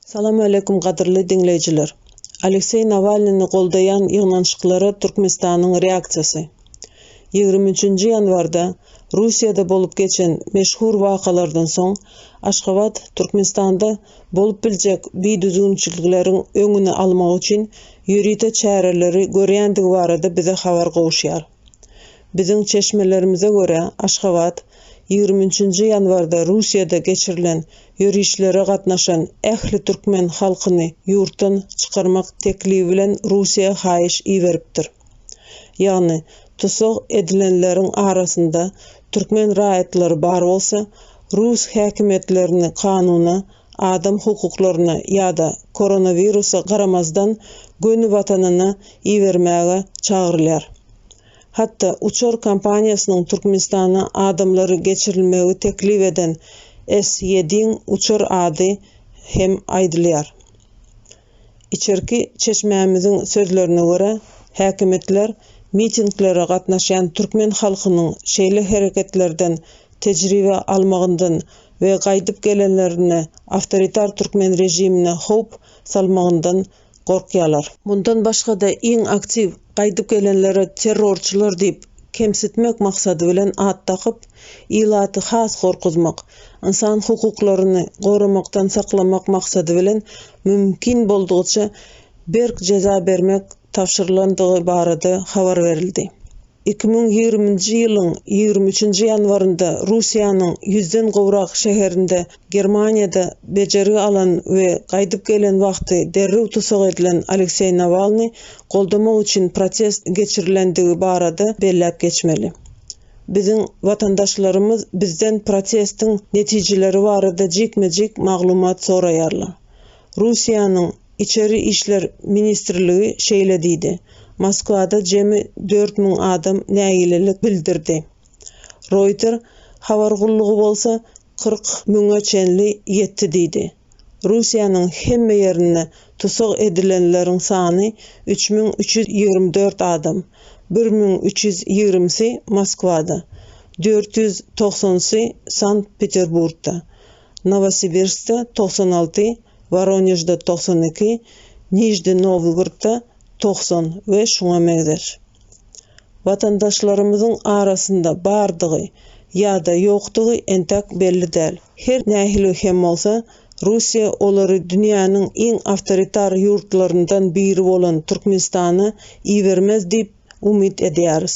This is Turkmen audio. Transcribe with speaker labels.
Speaker 1: Salamaleýkum gadyrly diňleýjiler. Alekseý Nawalnyny goldaýan ýygnanyşyklara Türkmenistanyň reaksiýasy. Ýigrimi üçünji ýanwarda Russiýada bolup geçen meşhur wakalardan soň Aşgabat Türkmenistanda bolup biljek bidüzgünçilikleriň öňüni almak üçin ýörite çäreleri görýändigi barada bize habar gowuşýar. Biziň çeşmelerimize görä, Aşgabat ýigrimi üçünji ýanwarda Russiýada geçirilen ýörişlere gatnaşan ähli türkmen halkyny ýurtdan çykarmak teklibi bilen Russiýa haýyş iberipdir. Ýagny, tussag edilenleriň arasynda türkmen raýatlary bar bolsa, rus häkimiýetlerini kanuna adam hukuklaryna ýa-da koronawirusa garamazdan göni watanyna ibermäge çagyrylýar. Hatda uçar kompaniýasynyň Türkmenistana adamlary geçirilmegi teklip eden S-Ýediň uçar ady hem aýdylýar. Içerki çeşmämiziň sözlerine görä, häkimiýetler mitinglere gatnaşýan türkmen halkynyň şeýle hereketlerden tejribe almagyndan we gaýdyp gelenlerinde awtoritar türkmen režimine howp salmagyndan gorkýarlar. Mundan başga-da iň aktiw gaýdyp gelenlere terrorçylar diýip, kemsitmek maksady bilen at dakyp, ilaty has gorkuzmak, ynsan hukuklaryny goramakdan saklamak maksady bilen mümkin boldugyça berk jeza bermek tabşyrylandygy barada habar berildi. Iki müň ýigrimi nji ýylyň ýigrimi üçünji ýanwarynda Russiýanyň ýüzden gowrak şäherinde, Germaniýada bejergi alan we gaýdyp gelen wagty derrew tussag edilen Alekseý Nawalny goldamak üçin protest geçirilendigi barada belläp geçmeli. Biziň watandaşlarymyz bizden protestiň netijeleri barada jikme-jik maglumat soraýarlar. Russiýanyň Içeri işler ministrligi şeýle diýdi, Moskwada jemi dört müň adam nägilelik bildirdi. Reuters habar gullugy bolsa kyrk müňe çenli ýetdi diýdi. Russiýanyň hemme ýerinde tussag edilenleriň sany üç müň üç ýüz ýigrimi dört adam, bir müň üç ýüz ýigrimisi Moskwada, dört ýüz togsanysy Sankt-Peterburgda, Nowosibirskde togsan alty, Woronežde togsan iki, Nižni-Nowlgordda togsan we şuňa meňzeş. watandaşlarymyzyň arasynda bardygy ýa-da ýokdugy entek belli däl. Her nähili hem bolsa, Russiýa olary dünýäniň iň awtoritar ýurtlaryndan biri bolan Türkmenistana ibermez diýip umyt edýäris.